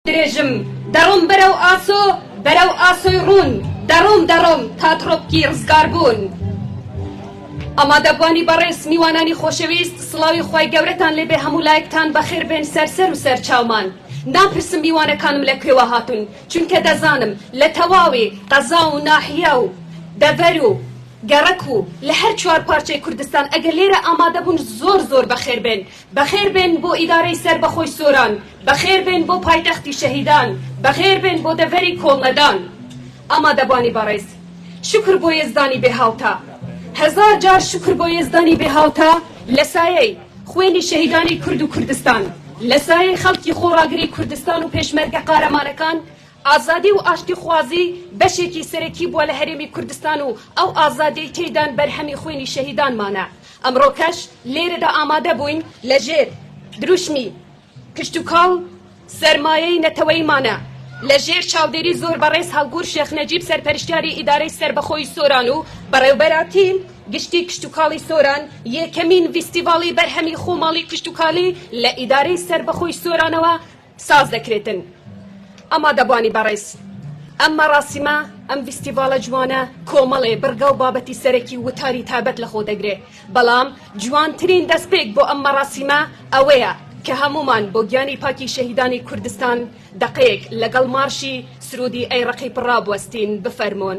درێژم دەڕۆم بەرەو ئاسۆ بەرەو ئاسۆی ڕوون دەڕۆم دەڕۆم تا تڕۆپکی ڕزگاربوون ئامادەبوانی بەڕێز میوانانی خۆشەویست سڵاوی خی گەورەتان لێبێ هەموو لایەکتان بەخێر بێن سەرسەر و سەر چاومان ناپرسم میوانەکانم لە کوێوە هاتون چونکە دەزانم لە تەواوی قەزا و ناحیا و دەڤەر و گەڕەک و لە هەر چوار پارچەی کوردستان ئەگەر لێرە ئامادەبوون زۆر زۆر بەخێر بێن بەخێربێن بۆ ئیدارەی سەربەخۆی سۆران، بەخێربێن بۆ پایتەختی شەهیدان، بەخێربێن بۆ دەڤەری کۆڵنەدان. ئامادەبانی بەڕێز، شوکر بۆ یەزدانی بێ هاوتا، هەزار جار شوکر بۆ یەزدانی بێ هاوتا لە سایەی خوێنی شەهیدانی کورد و کوردستان، لە سایەی خەڵکی خۆڕاگری کوردستان و پێشمەرگە قارەمانەکان، ئازادی و ئاشتیخوازی بەشێکی سەرەکی بووە لە هەرێمی کوردستان و ئەو ئازادیەی تێیدان بەرهەمی خوێنی شەهیدانمانە، ئەمڕۆکەش لێرەدا ئامادە بووین لەژێر دروشمی، کشتوکاڵ سەرمایەی نەتەوەیمانە، لەژێر چاودێری زۆر بەڕێز هەڵگوور شێخ نەجیب سەرپەرشتیاری ئیدارەی سەربەخۆی سۆران و بەڕێوبەرایەتی گشتی کشتوکاڵی سۆران یەکەمین ڤیستیڤاڵی بەرهەمی خۆماڵی کشتوکاڵی لە ئیدارەی سەربەخۆی سۆرانەوە ساز دەکرێتن ئامادەبانی بەڕێز ئەم مەڕاسیمە ئەم ڤیستیڤاڵە جوانە کۆمەڵێ بڕگا و بابەتی سەرەکی وتاری تابەت لە خۆ دەگرێ بەڵام جوانترین دەستپێک بۆ ئەم مەڕاسیمە ئەوەیە کە هەموومان بۆ گیانی پاکی شەهیدانی کوردستان دەقەیەک لەگەڵ مارشی سروودی ئەی ڕەقی پڕ ڕابوەستین بفەرموون.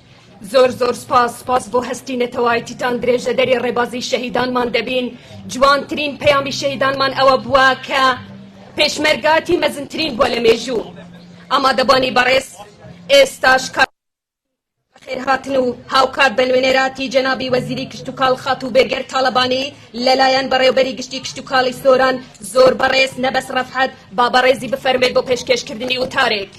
زۆر زۆر سوپاس سوپاس بۆ هەستی نەتەوایتیتان درێژەدەری ڕێبازی شەهیدانمان دەبین جوانترین پەیامی شەهیدانمان ئەوە بووە کە پێشمەرگاتی مەزنترین بووە لە مێژوو ئامادەبانی بەڕێز ئێستاش کار خێرهاتن و هاوکات بە نوێنەراتی جەنابی وەزیری کشتوکاڵ خاتوو بێگەر تاڵەبانی لەلایەن بەڕێوبەری گشتی کشتوکاڵی سۆران زۆر بەڕێز نەبەس ڕەفعەت با بەڕێزی بفەرمێت بۆ پێشکێشکردنی وتارێک.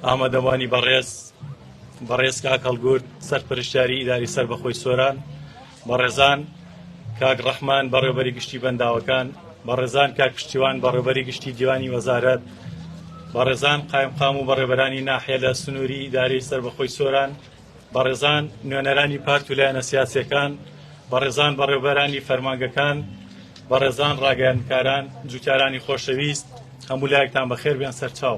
ئامادەوانی بەڕێز بەڕێز کاکەڵگورد سەرپەرشتاری ئیداری سەر بەخۆی سۆران بەڕێزان کاک ڕەحمان بەڕێوبەری گشتی بەنداوەکان بەڕێزان کاک پشتیوان بەڕێوبەری گشتی دیوانی وەزارەت بەڕێزان قایمقام و بەڕێبەرانی ناحێ لە سنووری داری سربەخۆی سۆران بەڕێزان نوێنەرانی پارت و لایەنە سیاسەکان بەڕێزان بەڕێوبەرانی فەرمانگەکان بەڕێزان ڕاگەیانکاران جوتیارانی خۆشەویست هەموو لایەکتان بەخێر بێن سەرچاو.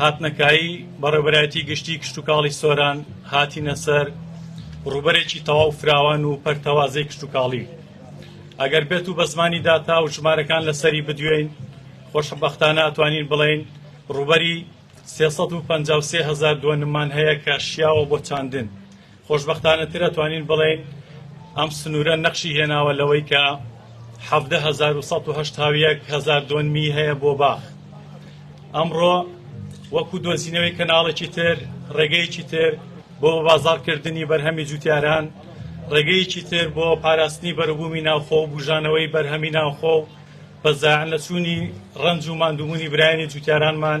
هاتنەکایی بەڕێوەبەرایەتی گشتی کشتوکاڵی سۆران هاتینە سەر ڕوبەرێکی تەواو فراوان و پەرتەوازەی کشتوکاڵی ئەگەر بێت و بە زمانی داتا و ژمارەکان لەسەری بدوێین خۆشببختانە ئەتوانین بڵین ڕوبەری 353 هزار دۆنممان هەیە کە شیاوە بۆ چاندن خۆشبەختانەتر ئەتوانین بڵێین ئەم سنوورە نەخشی هێناوە لەوەی کە حەڤدە هەزار و سەد و هەشتا و یەک هەزار دۆنمی هەیە بۆ باخ ئەمڕۆ وەکو دۆزینەوەی کەناڵێکی تر ڕێگەیەکی تر بۆ بازاڕکردنی بەرهەمی جوتیاران ڕێگەیەکی تر بۆ پاراستنی بەرەبوومی ناوخۆ و بژانەوەی بەرهەمی ناوخۆ و بەزاعن لە چوونی ڕەنج و مادووبوونی برایانی جوتیارانمان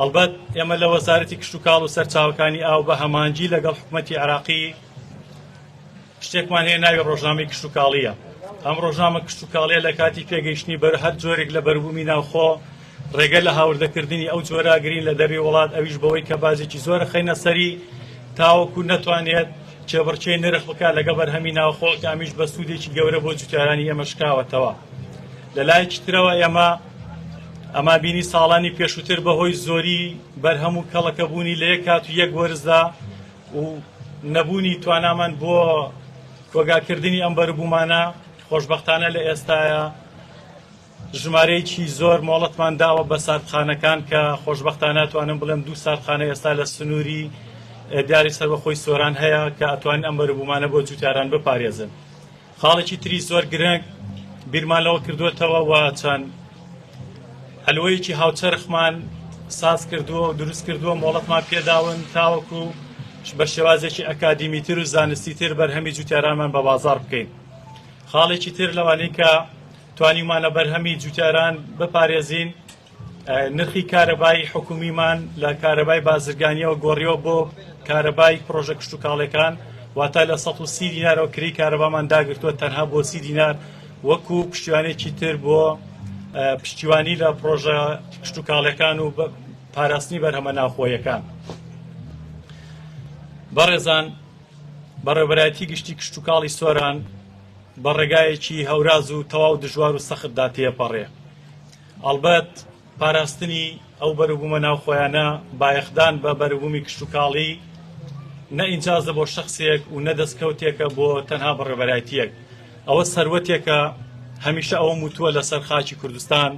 ئەڵبەت ئێمە لە وەزارەتی کشتوکاڵ و سەرچاوەکانی ئاو بە هەمانجی لەگەڵ حکوومەتی عراقی شتێکمان هەیە ناوی ڕۆژنامەی کشتوکاڵیە ئەم ڕۆژنامە کشتوکاڵیە لە کاتی پێگەیشتنی بەر هەر جۆرێک لە بەربوومی ناوخۆ ڕێگە لە هاوردەکردنی ئەو جۆراگرین لە دەروی وڵات ئەویش بەوەی کە بازێکی زۆرە خەینە سەری تاوەکو نەتوانێت چێبڕچێ نرخ بکە لەگە بەرهەمی ناوخۆ کامیش بە سوودێکی گەورە بۆ جوتیارانی ئێمە شکاوەتەوە. لەلایەکی ترەوە ئێمە ئەما بینی ساڵانی پێشووتر بەهۆی زۆری بەرهەم و کەڵەکەبوونی لە یەک کات و یەک وەرزدا و نەبوونی توانامان بۆ کۆگاکردنی ئەم بەربوومانە خۆشببختانە لە ئێستاە ژمارەیەکی زۆر مۆڵەتمان داوە بە ساردخانەکان کە خۆشببختانە توانم بڵێم دوو ساردخانە ئێستا لە سنووری دیاری سەربەخۆی سۆران هەیە کە ئەتوان ئەم بەربوومانە بۆ جووتاران بپارێزن. خاڵێکی تری زۆر گرنگ بیرمان لەوە کردوێتەوە و چەند هەلوەیەکی هاوچەرخمان ساز کردووە و دروست کردووە مۆڵەتمان پێداون تاوەکو بە شێوازێکی ئەکادیمیتر و زانستی تر بەرهەمی جوتیارانمان بە بازار بکەین خاڵێکی تر لەوانەی کە توانیمانە بەرهەمی جوتیاران بپارێزین نرخی کارەبای حکومیمان لە کارەبای بازرگانیەوە گۆڕیەوە بۆ کارەبای پرۆژە کشتتوکاڵەکان واتە لە 130 دینارەوە کری کارەبامان داگرتووە تەنها بۆ سی دینار وەکو پشتیوانێکی تر بۆ پشتیوانی لە پرۆژە کشتتوکاڵەکان و پاراستنی بەرهەمە ناوخۆیەکان بەڕێزان بەڕێبەرایەتی گشتی کشتتوکاڵی سۆران بە ڕێگایەکی هەوراز و تەواو دژوار و سەختدا تێپەڕێ ئەڵبەت پاراستنی ئەو بەروبوومە ناوخۆیانە، بایەخدان بە بەروبوومی کشتوکاڵی، نە ئینجازە بۆ شەخسێک و نە دەستکەوتێکە بۆ تەنها بەڕێوەبەرایەتییەک. ئەوە سەروەتێکە، هەمیشە ئەوەم وتووە لەسەر خاکی کوردستان،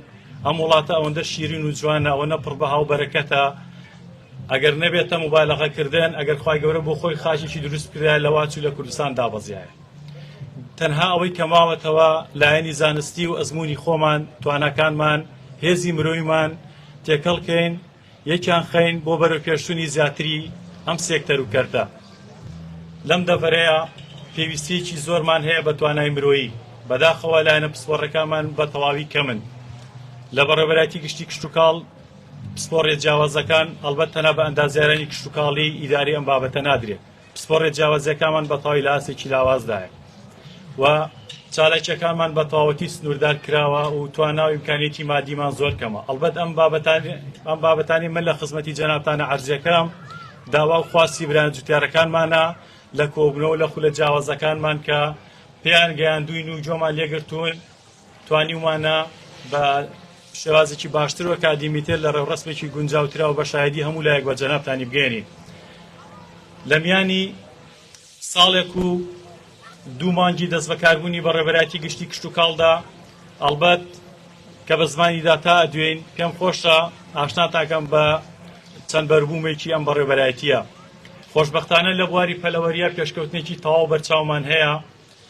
ئەم وڵاتە ئەوەندە شیرین و جوانە، ئەوەنە پڕ بەها و بەرەکەتە، ئەگەر نەبێتە موبالەغەکردن، ئەگەر خوای گەورە بۆ خۆی خاکێکی دروست بکردایە لەوا چوو لە کوردستان دابەزیایە. تەنها ئەوەی کە ماوەتەوە لایەنی زانستی و ئەزمموی خۆمان تواناکانمان هێزی مرۆیمان تێکەڵکەین یەکیان خەین بۆ بەرە پێشتونی زیاتری ئەم سێکتەر و کەرتە لەم دەڤەرەیە پێویستیەکی زۆرمان هەیە بە توانای مرۆیی بەداخەوە لایەنە پسپۆڕەکانمان بە تەواوی کەمن لە بەڕێبەراتی گشتی کشتتوکاڵ پسپۆڕێ جیاوازەکان ئەلبەت تەنا بە ئەندازیارانی کشتتوکاڵی ئیداری ئەم بابەتە نادرێت پسپۆڕیە جیاوازیەکانمان بەتەواوی لە ئاستێکی لاوازدایە و چالاکیەکانمان بە تەواوەتی سنووردار کراوە و تواناوی امکانێتی مادیمان زۆر کەمە ئەلبەت ئەم بابەتانی ئەم بابەتانی من لە خزمەتی جەنابتانە عرزیەکەم داوا و خواستی بران جوتیارەکانمانە لە کۆبنەوە لە خولە جیاوازەکانمان کە پێیان گەیاندوین و جۆمان لێگرتوون توانیومانە بە شێوازێکی باشتر و ئەکادیمیتر لە ڕێوڕسمێکی گونجاوترا و بە شایدی هەموو لایەک بە جەنابتانی بگەێنین لە میانی ساڵێک و دوو مانگی دەست بەکاربوونی بە ڕێبەرایەتی گشتی کشت و کاڵدا ئەلبەت کە بە زمانیدا تا دوێن پێم خۆشە ئاشناتاکەم بە چەند بەربوومێکی ئەم بەڕێبەرایەتیە خۆشببختانە لە بواری پەلەوەریە پێشکەوتنێکی تەواو بەرچاومان هەیە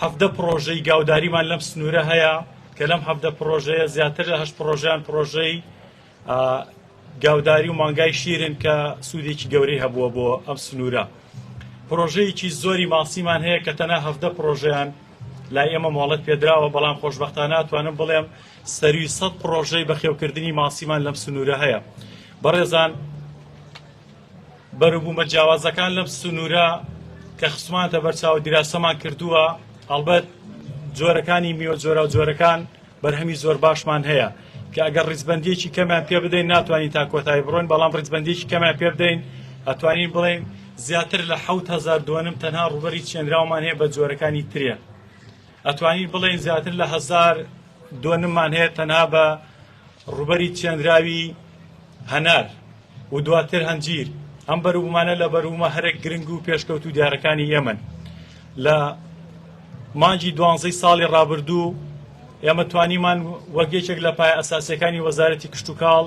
حەڤدە پڕۆژەی گاوداریمان لەم سنوورە هەیە کە لەم حەڤدە پڕۆژەیە زیاتر لە هەشت پڕۆژەیان پڕۆژەی گاوداری و مانگای شیرن کە سوودێکی گەورەی هەبووە بۆ ئەم سنوورە پرۆژەیەکی زۆری ماسیمان هەیە کە تەنە هەفتە پرۆژیان لای ئێمە مۆڵەت پێدراوە بەڵام خۆشببختان ناتوانم بڵێم سەروی سەد پرۆژەی بەخێوکردنی ماسیمان لەم سنوورە هەیە بەڕێزان بەروبومە جیاوازەکان لەم سنورە کە خستمانتە بەرچاو دیراسەمان کردووە هەڵبەت جۆرەکانی میوە جۆرا و جۆرەکان بەرهەمی زۆر باشمان هەیە کە ئەگەر ڕیزبندیەکی کەمیان پێ بدەین ناتوانین تا کۆتایی بڕۆین بەڵام ڕیزبندیەکی کەمیان پێ بدەین ئەتوانین بڵێین زیاتر لە هزار دوێنم تەنها ڕوبەری چێنراومان هەیە بە جۆرەکانی ترە ئەتوانین بڵێن زیاتر لە هزار دوێنممان هەیە تەنها بە ڕووبەری چێنراوی هەنار و دواتر هەنجیر ئەم بەروبوومانە لە بەروومە هەرە گرنگ و پێشکەوت و دیارەکانی ئێمەن لە مانجی دوانزەی ساڵی ڕابردوو ئێمە توانیمان وەک یەکێک لە پای ئەساسەکانی وەزارەتی کشتتوکاڵ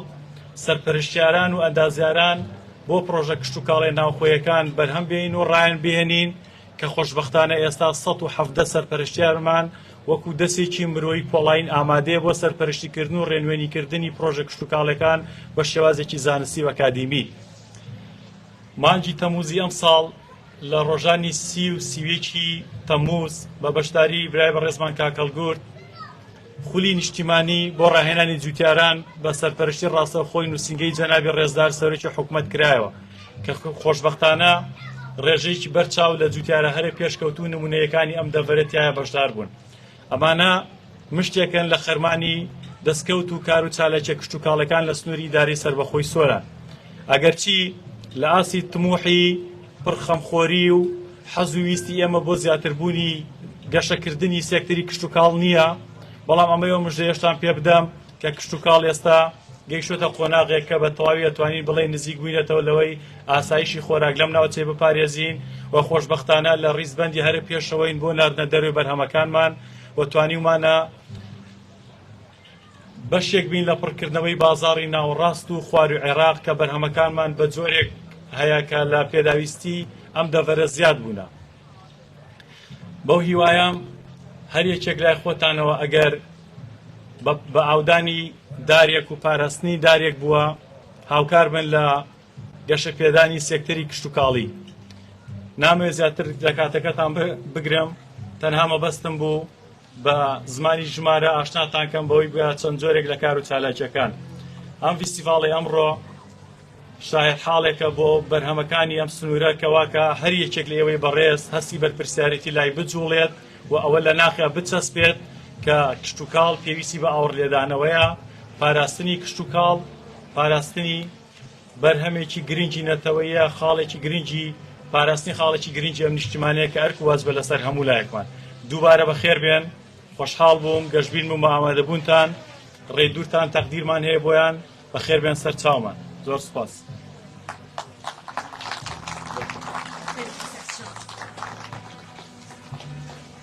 سەرپەرشتیاران و ئەندازیاران بۆ پرۆژە کشتتوکاڵی ناوخۆیەکان بەرهەم بێنین و ڕایان بێنین کە خۆشبەختانە ئێستا سەد و حەڤدە سەرپەرشتیارمان وەکو دەسێکی مرۆیی پۆڵاین ئامادەیە بۆ سەرپەرشتیکردن و ڕێنوێنیکردنی پرۆژە کشتوکاڵەکان بە شێوازێکی زانستی و ئەکادیمی. مانگی تەمووزی ئەمساڵ لە ڕۆژانی سی و سیویەکی تەمووز بە بەشداری برای بەڕێزمان کاکەڵگورد خولی نیشتیمانی بۆ ڕاهێنانی جووتیاران بە سەرپەرشتی ڕاستەوخۆی نووسینگەی جەنابی ڕێزدار سەرۆکی حکوومەت کرایەوە کە خۆشببختانە ڕێژەیەکی بەرچاو لە جووتیارە هەرە پێشکەوتو نمونەیەکانی ئەم دەڤەرەتایە بەشدار بوون ئەمانە مشتێکن لە خەرمانی دەستکەوت و کار و چالاکیە کشتتوکاڵەکان لە سنووری ئیداری سربەخۆی سۆران ئەگەرچی لە ئاسی تموحی پڕخەمخۆری و حەز و ویستی ئێمە بۆ زیاتربوونی گەشەکردنی سێکتەری کشتتوکاڵ نییە، بەڵام ئەمەی ئەو مژدەیەشتان پێ بدەم کە کشتتوکاڵ ئێستا گەیشتوتە قۆناغێک کە بە تەواوی ئەتوانین بڵێ نزیک بووینەتەوە لەوەی ئاسایشی خۆراک لەم ناوچەی بپارێزین و خۆشببختانە لە ڕیزبەندی هەرە پێشەوەین بۆ ناردنە دەروێ بەرهەمەکانمان و توانیومانە بەشێک بین لە پڕکردنەوەی بازاڕی ناوەڕاست و خواروی عێراق کە بەرهەمەکانمان بە جۆرێک هەیە کە لە پێداویستی ئەم دەڤەرە زیاد بوونە بەو هیوایام هەر یەکێک لای خۆتانەوە ئەگەر بە ئاودانی دارێک و پاراستنی دارێک بووە هاوکار بن لە گەشە پێدانی سێکتەری کشتتوکاڵی نامێ زیاتر لە کاتەکەتان بگرم تەنها مەبەستم بوو بە زمانی ژمارە ئاشناتان کەم بەوەی گویا چەند جۆرێک لە کار و چالاکیەکان ئەم فیستیڤاڵی ئەمڕۆ شاهد حاڵێکە بۆ بەرهەمەکانی ئەم سنوورە کەواکە هەر یەکێک لە ئێوەی بەڕێز هەستی بەرپرسیارێتی لای بجوڵێت و ئەوە لە ناخیا بچەسپێت کە کشتتوکاڵ پێویستی بە ئاوڕ لێدانەوەیە پاراستنی کشتتوکاڵ پاراستنی بەرهەمێکی گرنگی نەتەوەیە، خاڵێکی گرنگی پاراستنی خاڵێکی گرنگی ئەم نیشتیمانەیە کە ئەرک و واجبە لەسەر هەموو لایەکمان. دووبارە بەخێربێن، خۆشحاڵ بووم، گەشبین بووم بە ئامادەبوونتان، ڕێی دوورتان تەقدیرمان هەیە بۆیان، بەخێربێن سەر چاومان. زۆر سوپاس.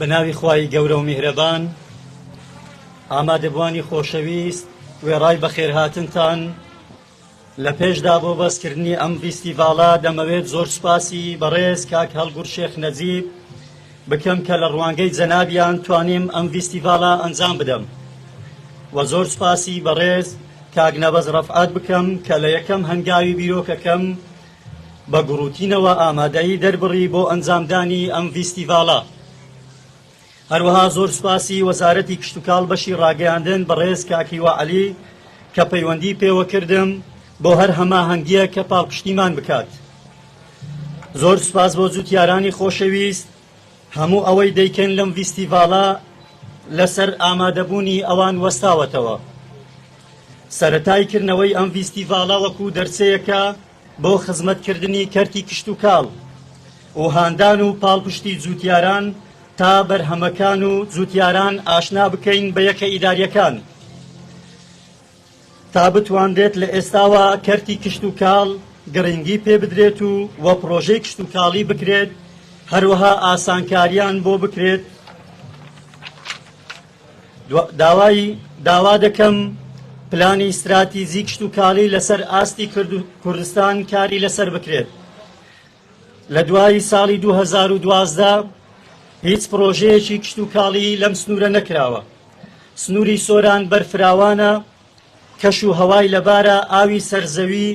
بە ناوی خوای گەورە و میهرەبان ئامادەبوانی خۆشەویست وێڕای بەخێرهاتنتان لە پێشدا بۆ بەسکردنی ئەم ڤیستیڤاڵە دەمەوێت زۆر سوپاسی بەڕێز کاک هەڵگوور شێخ نەجیب بکەم کە لە ڕوانگەی جەنابیان توانیم ئەم ڤیستیڤاڵە ئەنجام بدەم و زۆر سوپاسی بەڕێز کاک نەبەز ڕەفعات بکەم کە لە یەکەم هەنگاوی بیرۆکەکەم بە گوڕوتینەوە ئامادەیی دەربڕی بۆ ئەنجامدانی ئەم ڤیستیڤاڵە هەروەها زۆر سوپاسی وەزارەتی کشتوکاڵ بەشی ڕاگەیاندن بەڕێز کاک هیوا عەلی کە پەیوەندی پێوە کردم بۆ هەر هەماهەنگیەک کە پاڵپشتیمان بکات زۆر سوپاس بۆ جوتیارانی خۆشەویست هەموو ئەوەی دەیکەن لەم ڤیستیڤاڵە لەسەر ئامادەبوونی ئەوان وەستاوەتەوە سەرەتای کردنەوەی ئەم ڤیستیڤاڵە وەکو دەرچەیەکە بۆ خزمەتکردنی کەرتی کشتوکاڵ و هاندان و پاڵپشتی جووتیاران تا بەرهەمەکان و جووتیاران ئاشنا بکەین بە یەکە ئیداریەکان تا بتوانرێت لە ئێستاوە کەرتی کشتوکاڵ گرنگی پێ بدرێت و وە پرۆژەی کشتوکاڵی بکرێت هەروەها ئاسانکاریان بۆ بکرێت داوای داوا دەکەم پلانی ستراتیزی کشتوکاڵی لەسەر ئاستی کوردستان کاری لەسەر بکرێت لە دوای ساڵی 2012 هیچ پرۆژەیەکی کشتوکاڵی لەم سنوورە نەکراوە سنووری سۆران بەرفراوانە کەش و هەوای لەبارە، ئاوی سەر زەوی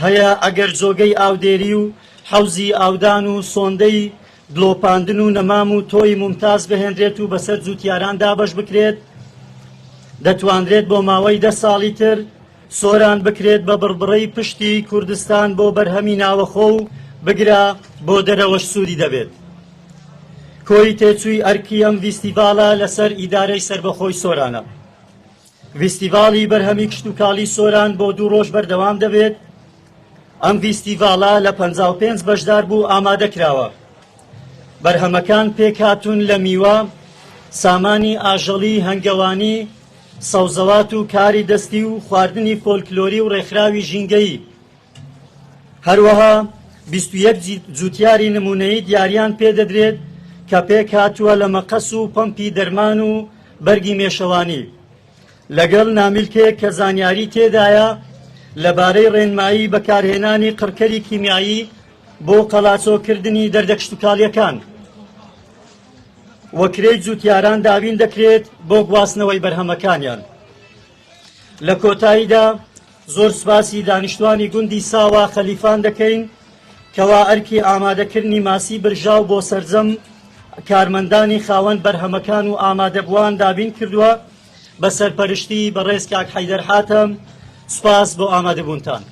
هەیە، ئەگەر جۆگەی ئاودێری و حەوزی ئاودان و سۆندەی دڵۆپاندن و نەمام و تۆی مومتاز بهێنرێت و بەسەر جووتیاران دابەش بکرێت دەتوانرێت بۆ ماوەی دە ساڵی تر سۆران بکرێت بە بڕبڕەی پشتی کوردستان بۆ بەرهەمی ناوەخۆ و بگرە بۆ دەرەوەش سوودی دەبێت کۆی تێچووی ئەرکی ئەم ڤیستیڤاڵە لەسەر ئیدارەی سربەخۆی سۆرانە. ڤیستیڤاڵی بەرهەمی کشتوکاڵی سۆران بۆ دوو ڕۆژ بەردەوام دەبێت ئەم ڤیستیڤاڵە لە پنج بەشدار بوو ئامادە کراوە بەرهەمەکان پێکهاتون لە میوە سامانی ئاژەڵی هەنگەوانی سەوزەوات و کاری دەستی و خواردنی فۆلکلۆری و ڕێکخراوی ژینگەیی هەروەها بیست و یەک جووتیاری نموونەیی دیاریان پێدەدرێت کە پێک هاتووە لە مەقەس و پەمپی دەرمان و بەرگی مێشەوانی لەگەڵ نامیلکێک کە زانیاری تێدایە لەبارەی ڕێنمایی بەکارهێنانی قڕکەری کیمیایی بۆ قەلاچۆکردنی دەردە کشتتوکاڵیەکان وەکرێی جووتیاران دابین دەکرێت بۆ گواستنەوەی بەرهەمەکانیان. لە کۆتاییدا زۆر سوپاسی دانیشتوانی گوندی ساوا خەلیفان دەکەین کەوا ئەرکی ئامادەکردنی ماسی برژاو بۆ سەرجەم کارمەندانی خاوەن بەرهەمەکان و ئامادەبووان دابین کردووە بە سەرپەرشتی بەڕێز کاک حەیدەر حاتەم سوپاس بۆ ئامادەبوونتان.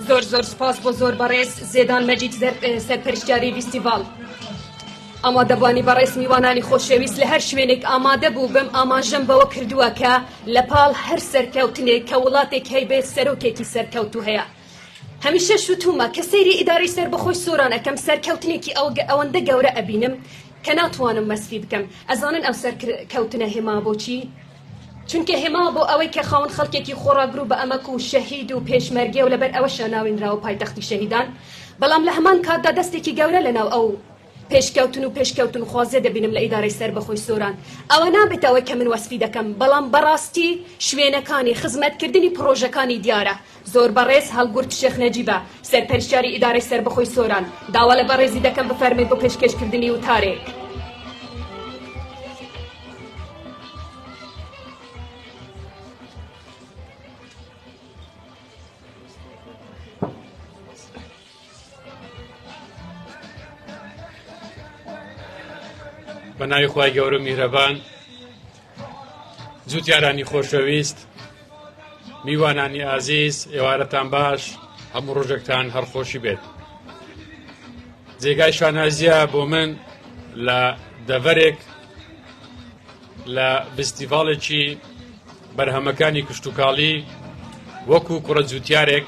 زۆر زۆر سپاس بۆ زۆر بەڕێز زێدان مەجید سەرپەرشتیاری ویستیڤال ئامادەبانی بەڕێز میوانانی خۆشەویست لە هەر شوێنێک ئامادە بوو بم ئاماژەم بەوە کردووە کە لە پاڵ هەر سەرکەوتنێک کە وڵاتێک هەیبێت سەرۆکێکی سەرکەوتو هەیە هەمیشە شوتومە کە سەیری ئیداری سەر بەخۆی سۆران ئەەکەم سەرکەوتنێکی ئەوگە ئەوەندە گەورە ئەبینم کە ناتوانم مەسفی بکەم ئەزانن ئەو سەر کەوتنە هێما بۆچی چونکە هێما بۆ ئەوەی کە خاون خەڵکێکی خۆڕاگرو بە ئەمەک و شەهید و پێشمەرگەیەو لەبەر ئەوەشە ناوێنراوە پایتەختی شەهیدان بەڵام لە هەمان کاتدا دەستێکی گەورە لەناو ئەو پێشکەوتن و پێشکەوتنخوازیە دەبینم لە ئیدارەی سەربەخۆی سۆران ئەوە نابێتە ئەوەی کە من وەسفی دەکەم بەڵام بەڕاستی شوێنەکانی خزمەتکردنی پڕۆژەکانی دیارە زۆر بەڕێز هەڵگورد شێخ نەجیبە سەرپەرشتیاری ئیدارەی سەربەخۆی سۆران، داوا لە بەڕێزی دەکەم بفەرمووی بۆ پێشکێشکردنی وتارێک. بە ناوی خی گەورە میرەبان جوتیارانی خۆشەویست میوانانی ئازیز ئێوارەتان باش هەموو ڕۆژێکتان هەرخۆشی بێت جێگای شانازیە بۆ من لە دەڤەرێک لە بستیڤالێکی بەرهەمەکانی کشتتوکاڵی وەکو کوڕە جوتیارێک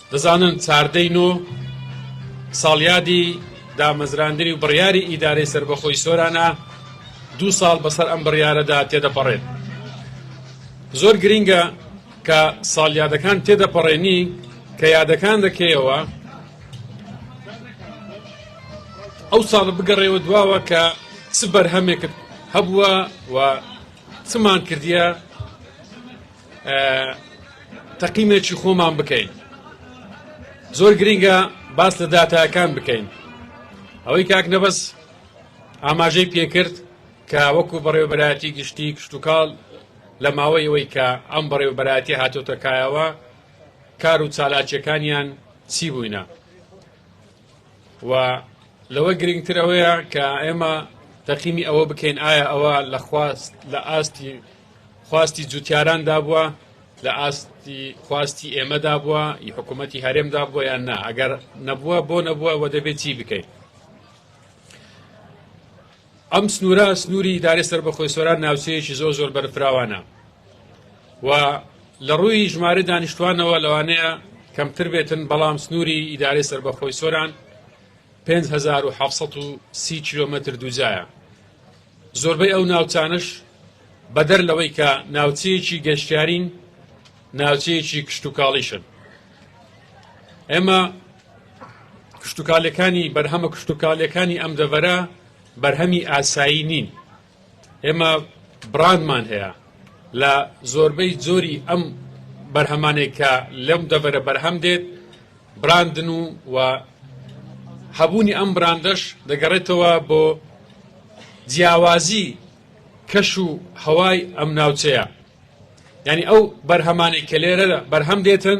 دەزانن چاردەی نۆ ساڵیادی دامەزراندنی و بڕیاری ئیدارەی سەربەخۆی سۆرانە دوو ساڵ بەسەر ئەم بڕیارەدا تێدەپەڕێت زۆر گرینگە کە ساڵیادەکان تێدەپەڕێنی کە یادەکان دەکەیەوە ئەو ساڵ بگەڕێەوە دواوە کە چ بەرهەمێکت هەبووە و چمان کردیە تەقیمێکی خۆمان بکەین زۆر گرنگە باس لە داتاکان بکەین ئەوەی کاک نەبەس ئاماژەی پێکرد کە وەکو بەڕێوبەتی گشتی کشتتوکاڵ لە ماوەی ئەوەی کە ئەم بەڕێوبەتی هاتۆتەکایەوە کار و چالاکیەکانیان چی بووینە و لەوە گرنگتر ئەوەیە کە ئێمە تەقیمی ئەوە بکەین ئایا ئەوە لە خواست لە ئاستی خواستی جوتیاراندا بووە لە ئاستی خواستی ئێمەدا بووە ی حکوومەتتی هەرێمدا بووە یان نا ئەگەر نەبووە بۆ نەبووە و دەبێت چی بکەین ئەم سنوورە سنووری ئیدارەی سەربەخۆی سۆران ناوچەیەکی زۆر زۆر بەرفراوانە و لە ڕووی ژمارە دانیشتوانەوە لەوانەیە کەمتر بێتن بەڵام سنووری ئیدارەی سەربەخۆی سۆران 5730 کیلومتر دووجایە زۆربەی ئەو ناوچانش بەدەر لەوەی کە ناوچەیەکی گەشتیارین ناوچەیەکی کشتتوکاڵیشن ئێمە کشتوکالەکانی بەرهەمە کشتوکالەکانی ئەم دەڤەرە بەرهەمی ئاسایی نین ئێمە بڕانمان هەیە لە زۆربەی زۆری ئەم بەرهەمانێک کە لەم دەڤەرە بەرهەم دێت براندن و و هەبوونی ئەم براندەش دەگەڕێتەوە بۆ جیاوازی کەش و هەوای ئەم ناوچەیە ینی ئەو بەرهەمانی کە لێرە بەرهەم دێتن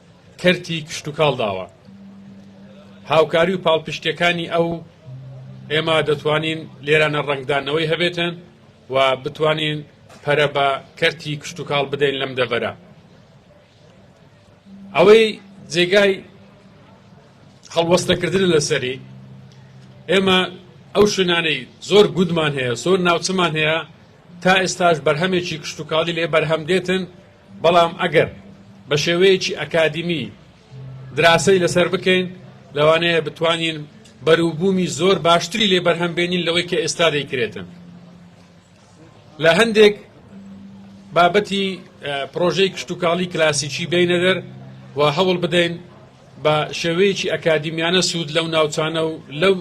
کەرتی کشتوکاڵ داوە. هاوکاری و پاڵپشتیەکانی ئەو ئێمە دەتوانین لێرانە ڕەنگدانەوەی هەبێتن و بتوانین پەرە بە کەرتی کشتوکاڵ بدەین لەم دەڤەرە. ئەوەی جێگای هەڵوەستەکردن لەسەری ئێمە ئەو شوێنانەی زۆر گودمان هەیە زۆر ناوچمان هەیە تا ئێستاش بەرهەمێکی کشتتوکاڵی لێ بەرهەم دێتن بەڵام ئەگەر بە شێوەیەکی ئەکادیمی دراسەی لەسەر بکەین لەوانەیە بتوانین بەروبوومی زۆر باشتری لێ بەرهەم بێنین لەوەی کە ئێستا دەیکرێتن لە هەندێک بابەتی پرۆژەی کشتتوکاڵی کلاسیکی بینە دەر و هەوڵ بدەین بە شێوەیەکی ئەکادیمیانە سوود لەو ناوچانە و لەو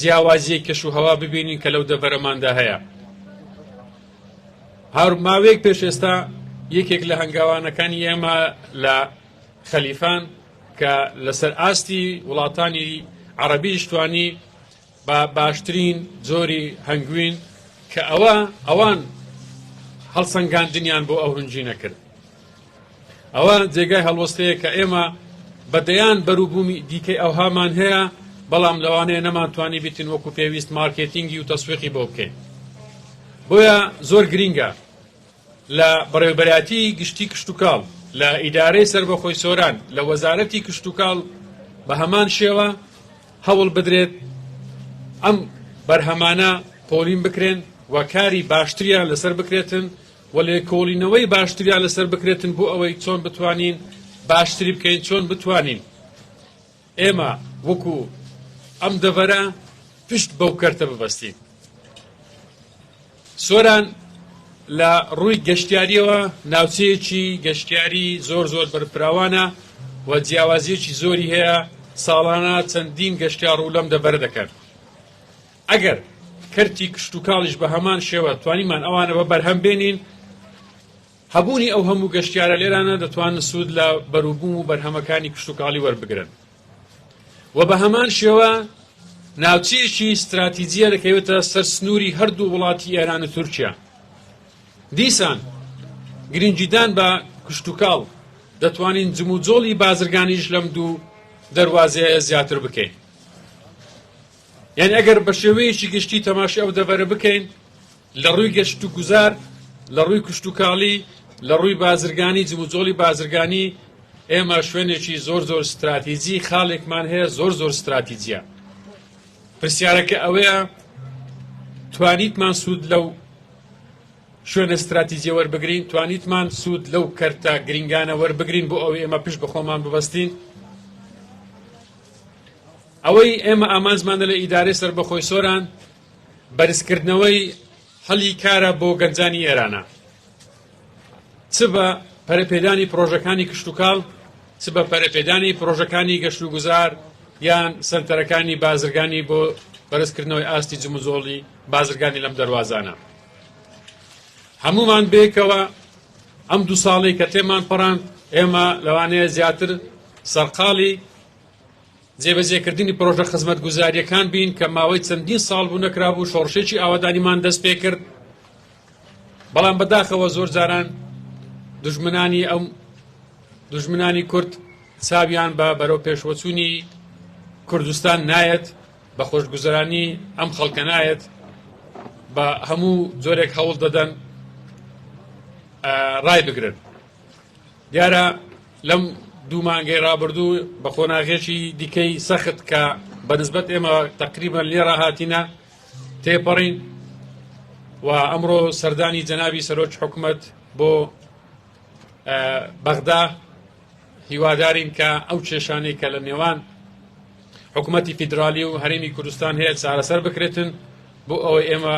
جیاوازیە کەش و هەوا ببینین کە لەو دەبەرەماندا هەیە هاورک ماوەیەک پێش ئێستا یەکێک لە هەنگاوانەکانی ئێمە لە خەلیفان کە لەسەر ئاستی وڵاتانی عەرەبیش توانی بە باشترین جۆری هەنگوین کە ئەوە ئەوان هەڵسەنگاندنیان بۆ ئەو هنجینە کرد ئەوە جێگای هەڵوەستەیە کە ئێمە بە دەیان بەروبوومی دیکەی ئەوهامان هەیە بەڵام لەوانەیە نەمانتوانی بیتن وەکو پێویست مارکێتینگی و تەسویقی بۆ بکەین بۆیە زۆر گرینگە لە بەڕێوبەراتی گشتی کشتتوکاڵ لە ئیدارەی سربەخۆی سۆران لە وەزارەتی کشتتوکاڵ بە هەمان شێوە هەوڵ بدرێت ئەم بەرهەمانە پۆلین بکرێن و کاری باشتریان لەسەر بکرێتن و لێکۆڵینەوەی باشتریان لەسەر بکرێتن بۆ ئەوەی چۆن بتوانین باشتری بکەین چۆن بتوانین ئێمە وەکو ئەم دەڤەرە پشت بەو کەرتە ببەستین سۆران لە ڕووی گەشتیاریەوە ناوچەیەکی گەشتیاری زۆر زۆر بەرپراوانە و جیاوازیەکی زۆری هەیە ساڵانە چەندین گەشتیار و لەم دەبەر دەکەن ئەگەر کەرتی کشتوکاڵیش بە هەمان شێوە توانیمان ئەوانە بە بەرهەم بێنین، هەبوونی ئەو هەموو گەشتیارە لێرانە دەتوانن سوود لە بەروبووم و بەرهەمەکانی کشتوکاڵی وەربگرن و بە هەمان شێوە ناوچەیەکی ستراتیجیە دەکەوێتە سەر سنووری هەردوو وڵاتی ئێران و تورکیا دیسان گرنگیدان بە کشتوکاڵ دەتوانین جموجۆڵی بازرگانیش لەم دوو دەواازەیە زیاتر بکەین. یانی ئەگەر بە شێوەیەکی گشتی تەماشای ئەو دەڤەرە بکەین لە ڕووی گەشتوگوزار، لە ڕووی کشتوکاڵی، لە ڕووی بازرگانی، جموجۆڵی بازرگانی، ئێمە شوێنێکی زۆر زۆر ستراتیجی، خاڵێکمان هەیە زۆر زۆر ستراتیجییە. پرسیارەکە ئەوەیە توانیتمان سوود لەو شوێنە ستراتیجیە وەربگرین، توانیتمان سوود لەو کەرتە گرنگانە وەربگرین بۆ ئەوەی ئێمە پشت بە خۆمان ببەستین؟ ئەوەی ئێمە ئامانجمانە لە ئیدارەی سەربەخۆی سۆران بەرزکردنەوەی هەلی کارە بۆ گەنجانی ئێرانە چ بە پەرەپێدانی پرۆژەکانی کشتتوکاڵ چ بە پەرەپێدانی پرۆژەکانی گەشت و گوزار یان سنتەرەکانی بازرگانی بۆ بەرزکردنەوەی ئاستی جموزۆڵی بازرگانی لەم دەواازانە هەمومان بێکەوە ئەم دو ساڵی کە تێمان پەڕاند ئێمە لەوانەیە زیاتر سەرقاڵی جێبەجێکردنی پرۆژە خزمەتگوزارییەکان بین کە ماوەی چەندین ساڵ بوو نەکرابوو، شۆڕشێکی ئاوەدانیمان دەست پێ کرد، بەڵام بەداخەوە زۆر جاران دژمنانی ئەم دژمنانی کورد چاویان بە بەرەو پێشوەچوونی کوردستان نایەت بە خۆشگوزرانی ئەم خەڵکە نایەت بە هەموو جۆرێک هەوڵ دەدەن ڕای بگرن. دیارە لەم دوو مانگەی ڕابردوو بە قۆناغێکی دیکەی سەخت کە بەنسبەت ئێمە تقریبان لێ ڕاهاتینە تێپەڕین و ئەمڕۆ سەردانی جەنابی سەرۆک حکومت بۆ بەغدا هیوادارین کە ئەو کێشانەی کە لە نێوان حکوومەتتی فیدراالی و هەرمی کوردستان هەیە چارەسەر بکرێتن بۆ ئەوەی ئێمە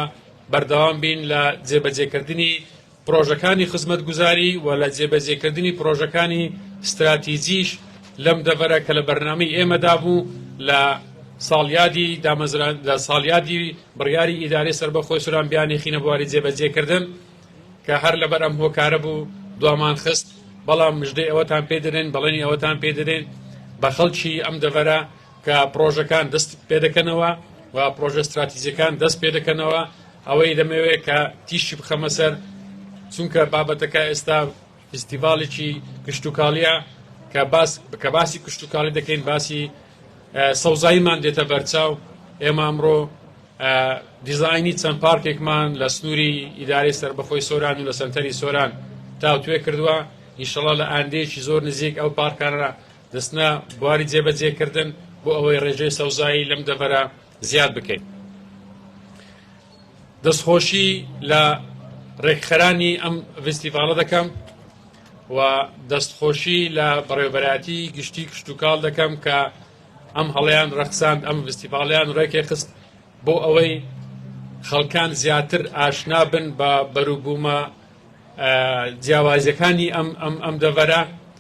بەردەوام بین لە جێبەجێکردنی پڕۆژەکانی خزمەتگوزاری و لە جێبەجێکردنی پڕۆژەکانی ستراتیجیش لەم دەڤەرە کە لە بەرنامەی ئێمەدا بوو لە ساڵیادی دامەزران لە ساڵیادی بڕیاری ئیدارەی سەربەخۆی سوران بیانێخینە بواری جێبەجێکردن کە هەر لەبەر ئەم هۆکارە بوو دوامان خست بەڵام مژدەی ئەوەتان پێ دەدەین بەڵێنی ئەوەتان پێ دەدەین بە خەڵکی ئەم دەڤەرە کە پڕۆژەکان دەست پێدەکەنەوە و پڕۆژە ستراتیزیەکان دەست پێدەکەنەوە ئەوەی دەمەوێت کە تیشی بخەمە سەر چونکە بابەتەکە ئێستا فستیڤالێکی کشتتوکاڵیە کە باس کە باسی کشتتوکاڵی دەکەین باسی سەوزاییمان دێتە بەرچاو ئێمە ئەمڕۆ دیزایانی چەند پارکێکمان لە سنووری ئیدارەی سربەخۆی سۆران و لە سنتەری سۆران تاوتوێ کردووە ئیشەڵا لە ئاندێکی زۆر نزیک ئەو پارکانە دەچنە بواری جێبەجێکردن بۆ ئەوەی ڕێژەی سەوزایی لەم دەڤەرە زیاد بکەین دەستخۆشی لە ڕێکخەرانی ئەم ڤستیڤالە دەکەم و دەستخۆشی لە بەڕێوبەراتی گشتی کشتتوکاڵ دەکەم کە ئەم هەڵیان ڕەخساند ئەم ڤستیڤالیان ڕێکێ خست بۆ ئەوەی خەڵکان زیاتر ئاشنا بن بە بەروبوومە جیاوازەکانی ئەم ئەم ئەم دەڤەرە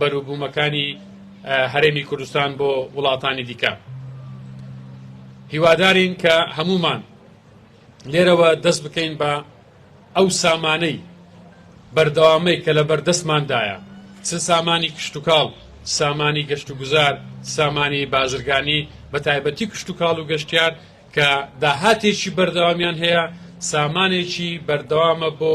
بەروبومەکانی هەرێمی کوردستان بۆ وڵاتانی دیکە هیوادارین کە هەمومان لێرەوە دەست بکەین بە ئەو سامانەی بەردەوامەی کە لە بەردەستماندایە چ سامانی کشتتوکاڵ سامانی گەشت و گوزار سامانی بازرگانی بە تایبەتی کشتتوکاڵ و گەشتیار کە داهاتێکی بەردەوامیان هەیە سامانێکی بەردەوامە بۆ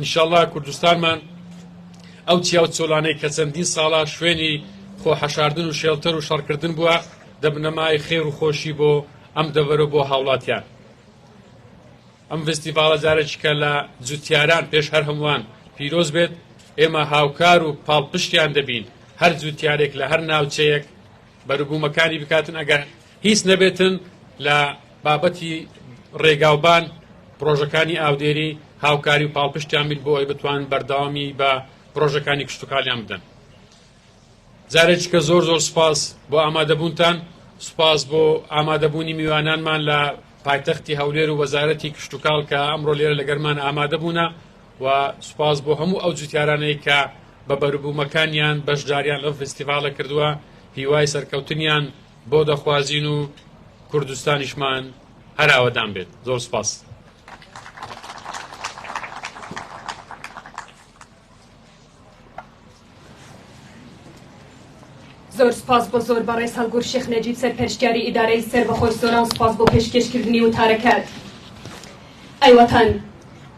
انشاللە کوردستانمان ئەو چیاو چۆلانەی کە چەندین ساڵە شوێنی خۆ حەشاردن و شێڵتەر و شەڕکردن بووە دەبنە مای خێر و خۆشی بۆ ئەم دەڤەرە بۆ هاوڵاتیان ئەم فستیڤاڵە جارێکیکە لە جوتیاران پێش هەر هەمووان پیرۆز بێت ئێمە هاوکار و پاڵپشتیان دەبین هەر جوتیارێک لە هەر ناوچەیەک بەروبوومەکانی بکاتن ئەگەر هیچ نەبێتن لە بابەتی ڕێگاوبان پرۆژەکانی ئاودێری هاوکاری و پاڵپشتیان بیت بۆ ئەوی بتوان بەردەوامی بە پرۆژەکانی کشتتوکالیان بدەن جارێککە زۆر زۆر سپاس بۆ ئامادەبوونتان سپاس بۆ ئامادەبوونی میوانانمان لە پایتەختی هەولێر و وەزارەتی کشتتوکاڵ کە ئەمڕۆ لێرە لەگەرمان ئامادەبوونا و سپاس بۆ هەموو ئەو جوتیارانەی کە بە بەروبوومەکانیان بەشداریان لەو فستیڤالە کردووە هیوای سەرکەوتنیان بۆ دەخوازین و کوردستانیشمان هەر ئاوەدان بێت زۆر سپاس. زۆر سپاس بۆ زۆر بەڕێز هەڵگور شێخ نەجیب سەرپەرشتیاری ئیدارەی سەربەخۆی سۆران سپاس بۆ پێشکێشکردنی وتارەکەت. ئەی وەتەن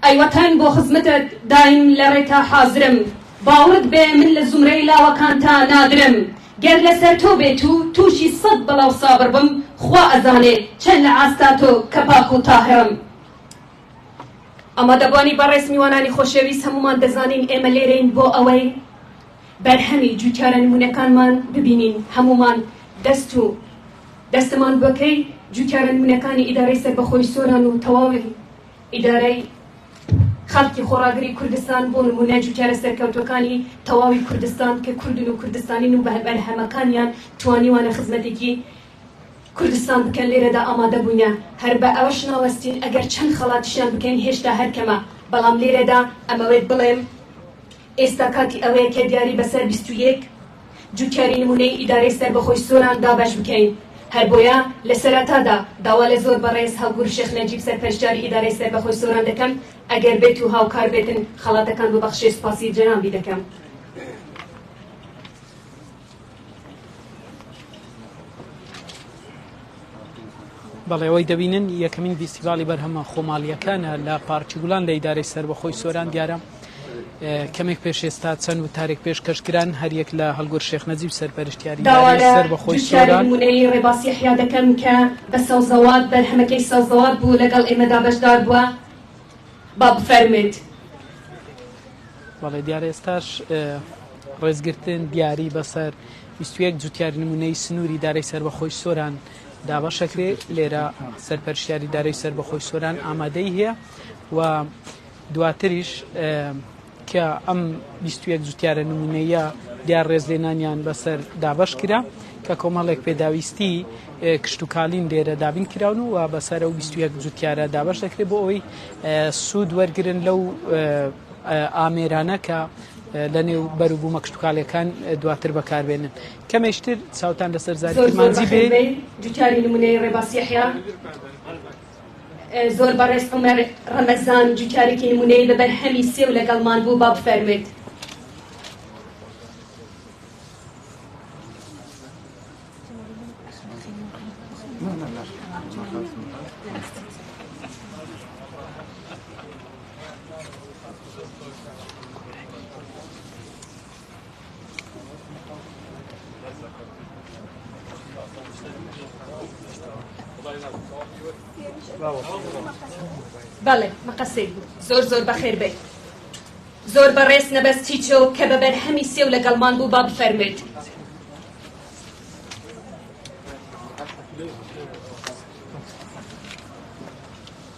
ئەی وەتەن بۆ خزمەتت دایم لە ڕێتا حازرم باوڕت بێ من لە زومرەی لاوەکانتا نادرم گەر لەسەر تۆ بێ تو توشی سەد بەڵاو سابر بم خوا ئەزانێ چەن لە ئاستا تۆ کە پاک و تاهرم. ئامادەبوانی بەڕێز میوانانی خۆشەویست هەموومان دەزانین ئێمە لێرەین بۆ ئەوەی بەرهەمی جوتیارە نمونەکانمان ببینین هەموومان دەست و. دەستمان بەکەی جوتیارە نمونەکانی ئیدارەی سەربەخۆی سۆران و تەواوی ئیدارەی خەڵکی خۆڕاگری کوردستان بۆ نمونە جوتیارە سەرکەوتوەکانی تەواوی کوردستان کە کوردن و کوردستانین و بەهەمەکانیان توانیوانە خزمەتێکی کوردستان بکەن لێرەدا ئامادە بووینە هەر بە ئەوەش ناوەستین ئەگەر چەند خەڵاتشیان بکەین هێشتا هەرکەمە بەڵام لێرەدا ئەمەوێت بڵێم ئێستا کاتی ئەوەیە کە دیاری بەسەر بیست و یەک جوتیاری نمونەیی ئیدارەی سەربەخۆی سۆران دابەش بکەین، هەر بۆیە لە سەرەتادا داوا لە زۆر بەڕێز هاوگور شێخ نەجیب سەرپەرشتیاری ئیدارەی سەربەخۆی سۆران دەکەم ئەگەر بێت و هاوکار بێتن خەڵاتەکان ببەخشێ سوپاسی جەنابی دەکەم. بەڵێ ئەوەی دەبینن یەکەمین ڤیستیڤاڵی بەرهەمە خۆماڵییەکانە لە پارکی گوڵان لە ئیدارەی سەربەخۆی سۆران دیارە. کەمێک پێش ئێستا چەند وتارێک پێشکەش کران، هەریەک لە هەڵگورد شێخ نەجیب سەرپەرشتیاری یانەی سەر بە خۆی سۆران. داوا لە دوکیانی نموونەیی ڕێباز یەحیا دەکەم کە بە سەوزەوات، بەرهەمەکەی سەوزەوات بوو، لەگەڵ ئێمەدا بەشدار بووە. با بفەرموێت. بەڵێ دیارە ئێستاش ڕێزگرتن دیاری بەسەر بیست و یەک جوتیاری نموونەیی سنووری دارەی سەر بە خۆی سۆران دابەشەکرێ، لێرە سەرپەرشتیاری دارەی سەر بە خۆی سۆران ئامادەی هەیە و دواتریش کە ئەم بیست و یەک جوتیارە نموونەییە دیار ڕێزلێنانیان بەسەر دابەش کرا کە کۆمەڵێک پێداویستی کشتتوکالین لێرە دابین کراون و بەسەر و بیست و یەک جوتیارە دابەش دەکرێت بۆ ئەوەی سوود وەرگن لەو ئامێرانە کە لە نێو بەروبوومە کشتتوکالەکان دواتر بەکاربێنن کەمێشتر چاوتان لەسەر زاری مانجی بێ جوتیاری نمونەی ڕێباسیحیا زۆر بەڕێز عمر رمضان جوچارێکی نمونەی بە بەرهەمی سێو لەگەڵمان بوو با بفەرمێت بەڵێ مەقەسەی بوو زۆر زۆر بەخێر بێت زۆر بەڕێز نەبەست تیچۆ کە بە بەرهەمی سێو لەگەڵمان بوو با بفەرمێت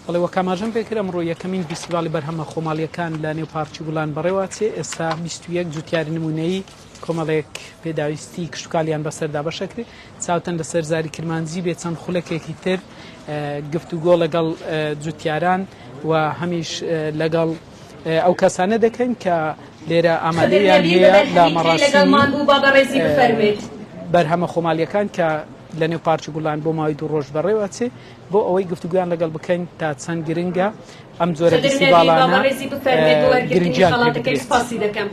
بەڵێ وەک ئاماژەم پێ کرد ئەمڕۆ یەکەمین ڤیستیڤاڵی بەرهەمە خۆماڵییەکان لە نێو پارکی گوڵان بەڕێوە ئەچێ، ئێستا بیست و یەک جووتیاری نموونەیی کۆمەڵێک پێداویستیی کشتوکاڵیان بەسەردا بەشە کرد، چاوتەن لەسەر زاری کرمانجی بێ چەند خولەکێکی تر گفتوگۆ لەگەڵ جووتیاران و هەمیش لەگەڵ ئەو کەسانە دەکەین کە لێرە ئامادەیان هەیە لە مەڕاسیمی بەرهەمە خۆماڵییەکان کە لە نێو پارکی گوڵان بۆ ماوەی دوو ڕۆژ بەڕێوە ئەچێ. بۆ ئەوەی گفتوگۆیان لەگەڵ بکەین تا چەند گرنگە ئەم جۆرە فیستیڤاڵانە گرنگیان پێ بدرێت.